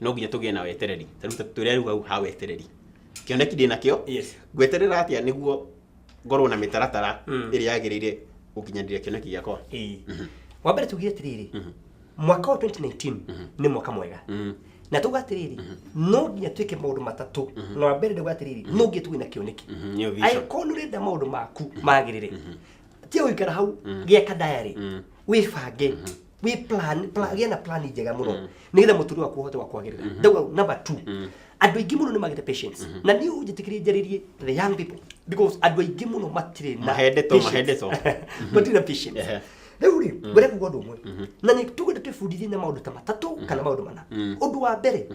no nginya tũgĩe na wetereri tarĩu ta tũrĩa rĩu hau ha wetereri kĩoneki ndĩ nakĩo Yes. ngweterera atĩa nĩguo ngorwo na mĩtaratara Mm. ĩrĩa yagĩrĩire gũkinyanĩria kĩoneki gĩakwa Ĩĩ. wa mbere tugire atĩrĩrĩ mwaka wa 2019 nĩ mwaka mwega Mm. na tuga atĩrĩrĩ no nginya twĩke maũndũ matatũ na wa mbere nĩguo atĩrĩrĩ no nginya tugĩe na kĩoneki Mhm, nĩyo vision. angĩkorwo nĩ ũrenda maũndũ maku magĩrĩre tia gũikara hau gĩaka diary wĩbange wĩ plan plan- gĩa na plan njega mũno nĩgetha mũtũrĩre waku ũhote wa kwagĩrĩra ndauga number two andũ aingĩ mũno nĩ magĩte patience na niĩ ũnjĩtĩkĩrie njarĩrie the young people because andũ aingĩ mũno matirĩ na Mahendetwo, patience. mahendetwo. matirĩ na patience Ehe. rĩu rĩ ngwenda kuga ũndũ ũmwe na nĩ tũgenda twĩbundithie na maũndũ ta matatũ kana maũndũ mana ũndũ wa mbere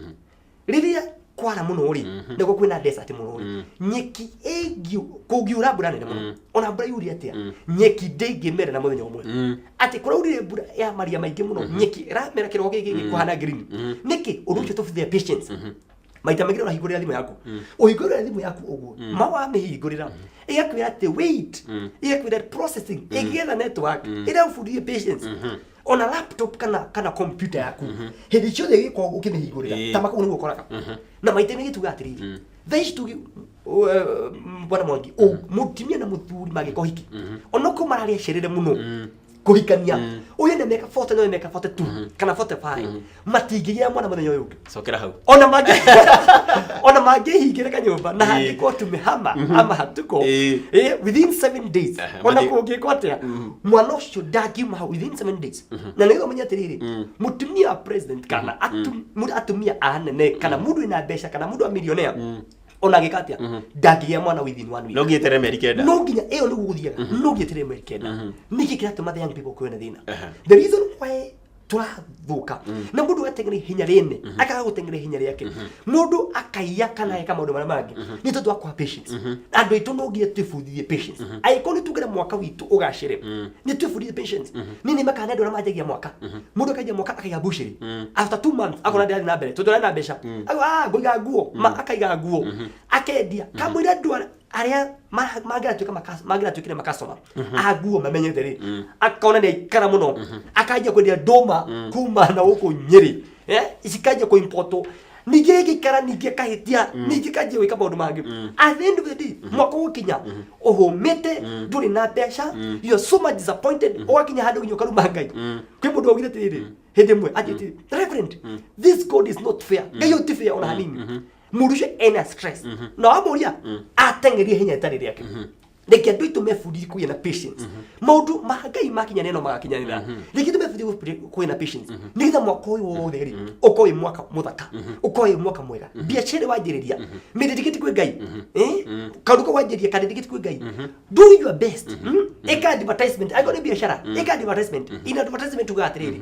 rĩrĩa kwara mũno rĩ Mhm. nĩguo kwĩna desert mũno rĩ Mm. nyeki ĩngiu kũngiura mbura nene mũno Mm. ona mbura yuri atĩa Mm. nyeki ndĩngĩmera na mũthenya ũmwe Mm. atĩ kũraurire mbura ya maria maingĩ mũno nyeki ĩramera kĩroko gĩkĩ gĩkĩ kũhana green Mhm. nĩkĩ ũndũ ũcio tũbithia patience Mhm. maita maingĩ ũrahingũrĩra thimũ yaku ũhingũrĩra thimũ yaku ũguo ma wamĩhingũrĩra ĩgakwĩra atĩ wait Mm. ĩgakwĩra processing ĩgĩetha network ĩrabundithia patience ona laptop kana kana computer yaku hindi ciothe giko Eh. ukimihingurira ta makau niguo koraga na maite ni gituga atiriri Mm. thaa ici tugi u- eh, m- bwana mwangi u- mutumia na muthuri magiko hiki ona ko mararia cerere muno Mm. kuhikania uyu ni meka 40 na uyu meka 42 kana 45 matingĩgĩa mwana mũthenya ũyũ ũngĩ cokera hau ona mangĩ ona mangĩhingĩre kanyũmba na Ĩĩ. handĩkwo tumehama ama hatuko Ĩĩ. ĩ within seven days Aha, ona mathi- kũngĩkwo atĩa mwana ũcio ndangiuma hau within seven days na nĩgetha ũmenye atĩrĩrĩ mũtumia wa president kana atu- mũndũ- atumia a anene kana mũndũ wĩna mbeca kana mũndũ wa millionaire ona agĩka atĩa ndangĩgĩa mwana within one week no nginya tere meri kenda no nginya ĩyo nĩguo gũthiaga no nginya tere mweri kenda nĩkĩ kĩratũma the young people kwĩna thĩna Aha. the reason why tũrathũka na mũndũ ateng'era ihenya rĩne akaga gũteng'era ihenya rĩake mũndũ akaiya kana eka maũndũ marĩa mangĩ nĩ tondũ wa kwaga patience andũ aitũ no nginya twĩbundithie patience angĩkorwo nĩ tuugĩre mwaka witũ ũgacĩre nĩ twĩbundithie patience nĩ nĩ makana andũ arĩa manjagia mwaka mũndũ akaiya mwaka akaiga bucĩrĩ after two months akona ndĩrathiĩ na mbere tondũ arĩ na mbeca Au, ah ngoiga nguo ma akaiga nguo akendia kamwĩra ndwara arĩa ma- mangĩratuĩka maka- mangĩratuĩkire makasoma aguo mamenyete rĩ akona nĩ aikara mũno akanjia kwendia ndũma kuma na gũkũ nyĩrĩ Eh, cikanjia kũimpotwo ningĩ gĩkara ningĩ kahĩtia ningĩ kanjia gwĩka maũndũ mangĩ at the end of the day mwaka ũgũkinya ũhũmĩte ndũrĩ na mbeca you are so much disappointed ũgakinya handũ nginya ũkaruma ngai kwĩ mũndũ waugire atĩrĩrĩ hĩndĩ ĩmwe atĩtĩ reverend this god is not fair ngai ũyũ ti fair ona hanini murucio ena stress no muria atengeria hinya itari riake reke andu itu mebundithie kugia na patience maundu ma ngai makinyanira no magakinyanira reke tumebundithie kugia na patience nigetha mwaka uyu wothe ri uko wi mwaka muthaka uko wi mwaka mwega biacara wanjiriria miririkiti kwi ngai eh karuka wanjiriria kandirikiti kwi ngai do your best Mm? eka advertisement ago ni biacara eka advertisement in advertisement uga atiriri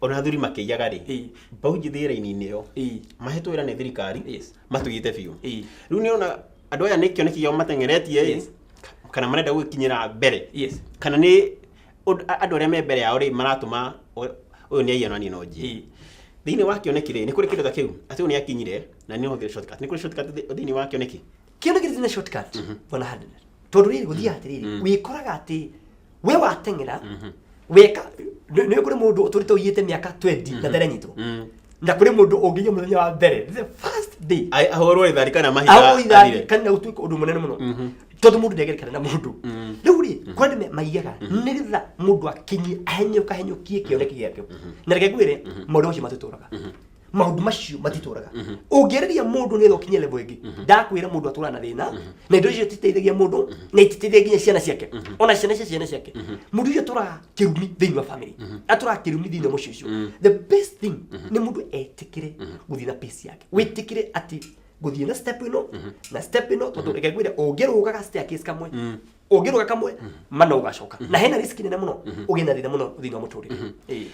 ona athuri makĩiyaga rĩ Ĩĩ. mbaũ njĩthĩ ĩraini-inĩ ĩyo Ĩĩ. mahetwo wĩra nĩ thirikari Yes. matũigĩte biũ Ĩĩ. rĩu nĩ ona andũ aya nĩ kĩoneki kĩao mateng'eretie ĩ Yes. kana marenda gũkinyĩra mbere Yes. kana nĩ ũndũ- a- andũ arĩa me mbere yao rĩ maratũma ũyũ- ũyũ nĩ aiya nani no njĩ Ĩĩ. thĩinĩ wa kĩoneki rĩ nĩ kũrĩ kĩndũ ta kĩu atĩ ũyũ nĩ akinyire na nĩ ũhũthĩre shortcut nĩ kũrĩ shortcut thĩ- thĩinĩ wa kĩoneki kĩndũ kĩrĩ na shortcut bona handũ tondũ rĩrĩ gũthiaga atĩrĩrĩ wĩkoraga atĩ we wateng'era weka nĩ nĩ kũrĩ mũndũ ũtũrĩte ũiyĩte mĩaka 20 na ndaranyitwo Mm. na kũrĩ mũndũ ũngĩiya mũthenya wa mbere the first day Ai- ahũrwo rĩthari kana awo mahiga ithari athire. kana gũtuĩka ũndũ mũnene mũno tondũ mũndũ ndegerekana na mũndũ rĩu rĩ kwani me- maiyaga nĩgetha mũndũ akinyi ahenyũka henyũkie kĩoneki gĩake na reke ngwĩre maũndũ macio matũtũraga maundu macio matitũraga ũngĩarĩria mũndũ nĩgetha ũkinye level ĩngĩ ndakwĩra mũndũ atũraga na thĩna na indo icio ititeithagia mũndũ na ititeithagia nginya ciana ciake ona ciana cia ciana ciake mũndũ icio atũraga kĩrumi thĩinĩ wa family atũraga kĩrumi thĩinĩ wa mũciĩ ũcio the best thing nĩ mũndũ etĩkĩre gũthiĩ na pace yake wĩtĩkĩre atĩ gũthiĩ na step ĩno na step ĩno tondũ reke ngwĩre ũngĩrũgaga staircase kamwe ũngĩrũga kamwe mana ũgacoka na hena risk nene mũno ũgĩe na thĩna mũno thĩinĩ wa mũtũrĩre Ĩĩ.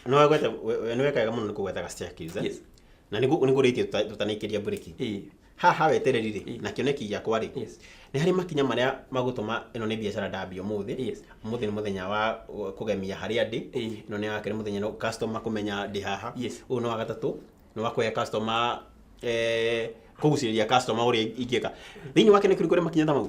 no wegwete we- we- nĩwekaga mũno nĩ kũgwetaga staircase, eh? Yes. na nĩ kũrĩtie tũtanaikĩria mburĩki Eh, haha wetereri rĩ Yes. na kĩoneki gĩakwa rĩ Yes. nĩ harĩ makinya marĩa magũtũma ĩno nĩ biacara ndambia ũmũthĩ Yes. ũmũthĩ nĩ mũthenya wa uh, kũgemia harĩa ndĩ Eh. ĩno nĩ wakerĩ mũthenya no customer kũmenya ndĩ haha Yes. ũyũ nĩ wa gatatũ nĩ wa kũhe customer eh, kũgucĩrĩria customer ũrĩa ingĩka thĩinĩ wake nĩ kũrĩ kũrĩ makinya ta mau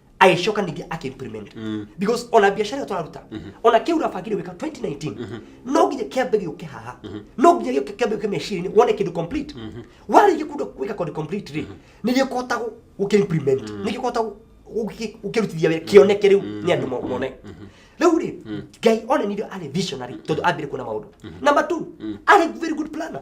agĩcoka ningĩ akĩimplement because ona biacara ĩyo tũraruta ona kĩu ũrabangire gwĩka 2019 no nginya kĩambe gĩũke haha no nginya gĩũke kĩambe gĩũke meciria-inĩ wone kĩndũ complete warĩkia kũndũ gwĩka kũndũ complete rĩ nĩ gĩkũhota gũ- gũkĩimplement nĩ gĩkũhota gũ- gũkĩ- gũkĩrutithia wĩra kĩoneke rĩu nĩ andũ mo- mone rĩu rĩ ngai onanire arĩ visionary tondũ ambire kuona maũndũ number two arĩ very good planner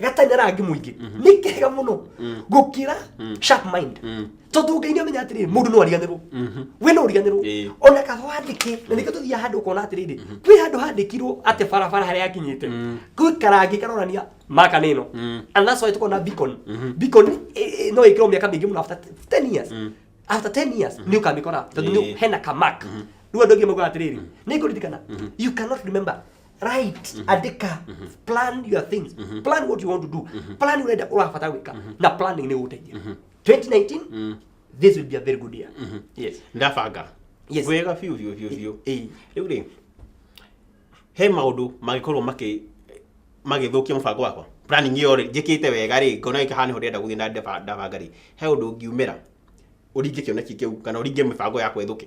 gatanya rangi muingĩ nĩ kega mũno gũkĩra sharp mind tondũ ngai nĩ amenya atĩrĩrĩ mũndũ no ariganĩrwo we no ũriganĩrwo Ĩĩ. ona kaba wandĩke na nĩkĩo tũthiaga handũ ũkona atĩrĩrĩ kwĩ handũ handĩkirwo atĩ barabara harĩa yakinyĩte kwĩ karangi karonania maka nĩ ĩno and that's why tũkona beacon beacon ĩ- ĩ- no ĩkĩrwo mĩaka mĩingĩ mũno after 10 years after 10 years nĩ ũkamĩkora tondũ Ĩĩ. nĩ hena kamak rĩu andũ aingĩ maugaga atĩrĩrĩ nĩ ngũririkana you cannot remember right andika plan your things plan what you want to do plan urenda urabata gwika na planning ni guteithia 2019 this will be a very good year yes ndabanga Yes. wega biũ biũ biũ biũ Eh, rĩu rĩ he maũndũ mangĩkorwo makĩ magĩthũkia mũbango wakwa planning ĩyo rĩ njĩkĩte wega rĩ ngona gĩkaha nĩho ndĩrenda gũthiĩ na ndaba- ndabanga rĩ he ũndũ ngiumĩra ũringe kĩoneki kĩu kana ũringe mĩbango yakwa ĩthũke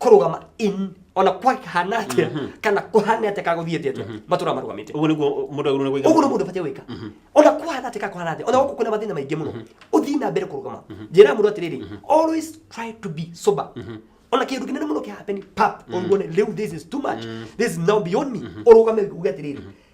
kũrũgama in ona kwahana atia kana kũhane atia kana gũthiĩ atia atia matũra marũgamĩte ũguo nĩguo mũndũ agĩrĩirwo nĩ ũguo nĩ mũndũ batiĩ gwĩka ona kũhana atia kana kũhana atia ona gũkũ kwĩna mathĩna maingĩ mũno ũthiĩ na mbere kũrũgama njĩra mũndũ atĩrĩrĩ always try to be sober ona kĩndũ kĩnene mũno kĩhapeni pap ũruone rĩu this is too much this is now beyond me ũrũgame uge atĩrĩrĩ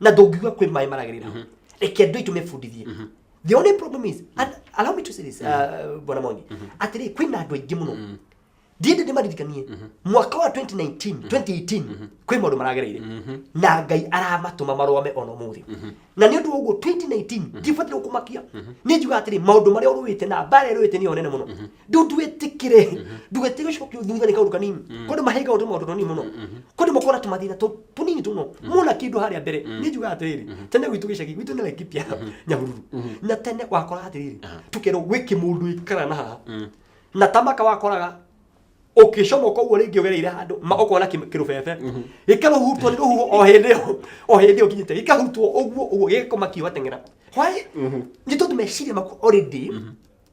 na ndũngiuga kwĩ maĩ maragĩrĩra hau reke andũ aitũ mebundithie the only problem is and allow me to say this uh, bwana mongi atĩrĩ kwĩ na andũ aingĩ mũno ndiende ndĩmaririkanie mwaka wa 2019 2018 kwĩ maũndũ maragereire na ngai aramatũma marũame ona mũthĩ na nĩ ũndũ wa ũguo 2019 ndibataire kũmakia nĩ njuga atĩrĩ maũndũ marĩa ũrũĩte na mbara ĩrũĩte nĩ yo nene mũno rĩu ndwĩtĩkĩre ndũgetĩkĩre gĩcigo kĩu thutha nĩ kaũndũ kanini kũndũ mahinga ũndũ maũndũ tũnini mũno kũndũ makona tũmathĩna tũ- tũnini tũno mona kĩndũ harĩa mbere nĩ njugaga atĩrĩrĩ tene gwitũ gĩcagi gwitũ nĩ laikipia nyahururu na tene wakoraga atĩrĩrĩ tũkerwo gwĩ kĩmũndũ ikara na haha na tamaka wakoraga ũkĩcomoka ũguo rĩngĩ ũgereire handũ ma ũkona kĩ- kĩrũbebe gĩkarũhutwo nĩ rũhuho o hĩndĩ ĩyo o hĩndĩ ĩyo nginyĩte gĩkahutwo ũguo ũguo gĩgakoma kiuga teng'era hwaĩ nĩ tondũ meciria maku already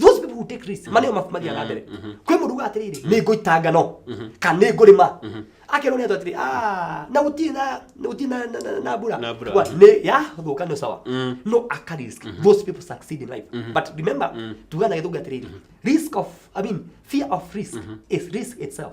those people who take risks mane mabuku mathiaga na mbere kwĩ mũndũ uga atĩrĩrĩ nĩ ngũita ngano kana nĩ ngũrĩma akerwo nĩ andũ atĩrĩ "Ah, na gũtirĩ na na gũtirĩ na- na- na- na mbura Na mbura. Wa- nĩ yathũka nĩ sawa no aka risk those people succeed in life but remember tugana gĩthũngũ atĩrĩrĩ risk of i mean fear of risk is risk itself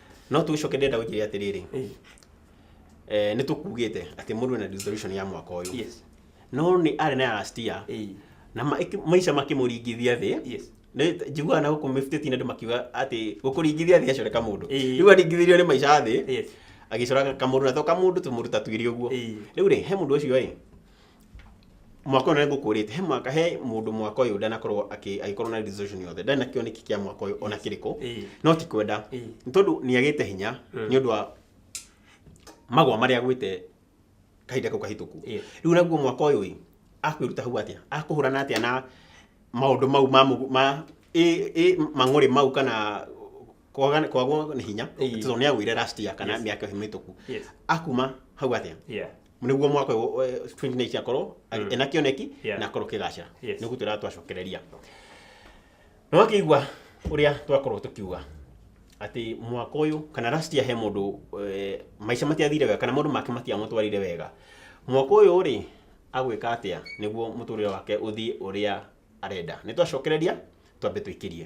no tũcoke ndĩrenda gũkĩria atĩrĩrĩ Eh, eh, nĩ tũkugĩte atĩ mũndũ ena resolution ya mwaka ũyũ yes no nĩ arĩ na ya last year Eh, na ma- ĩkĩ- maica makĩmũringithia thĩ yes Nĩ- njiguaga na gũkũ mĩbitĩti andũ makiuga atĩ gũkũringithia thĩ acore kamũndũ Ĩĩ. rĩu aringithirio nĩ maica thĩ yes agĩcora kamũndũ na to kamũndũ tũmũndũ ta twĩrĩ ũguo Eh. rĩu rĩ he mũndũ ũcio ĩ mwaka ũyũ nĩngũkũrĩte he mwaka he mũndũ mwaka ũyũ ndanakorwo akĩ- agĩkorwo na resolution yothe ndarĩ na kĩoneki kĩa mwaka ũyũ ona kĩrĩkũ Ĩĩ. no ti kwenda Ĩĩ. nĩ tondũ nĩagĩte hinya Mm. nĩ ũndũ wa magwa marĩa agwĩte kahinda kau kahĩtũku Ĩĩ. rĩu naguo mwaka ũyũ ĩ akwĩruta hau atĩa akũhũrana atĩa na maũndũ mau ma mũgu- ma ĩ- ĩ mang'ũrĩ mau kana kwaga- kwagwo nĩ hinya Ĩĩ. tondũ nĩagwĩire last year kana Yes. mĩaka ĩyo mĩhĩtũku Yes. akuma hau atĩa Yeah. nĩguo mwaka ũyũ, eh, 29 akorwo mm. ena kĩoneki Yeah. na akorwo kĩgacĩra Yes. nĩguo tũrĩa twacokereria nĩ wakĩigua ũrĩa twakorwo tũkiuga atĩ mwaka ũyũ kana last year he mũndũ eh, maica matiathire wega kana maũndũ make matiamũtwarire wega mwaka ũyũ rĩ agwĩka atĩa nĩguo mũtũrĩre wake ũthiĩ ũrĩa arenda nĩ twacokereria twambe tũikĩrie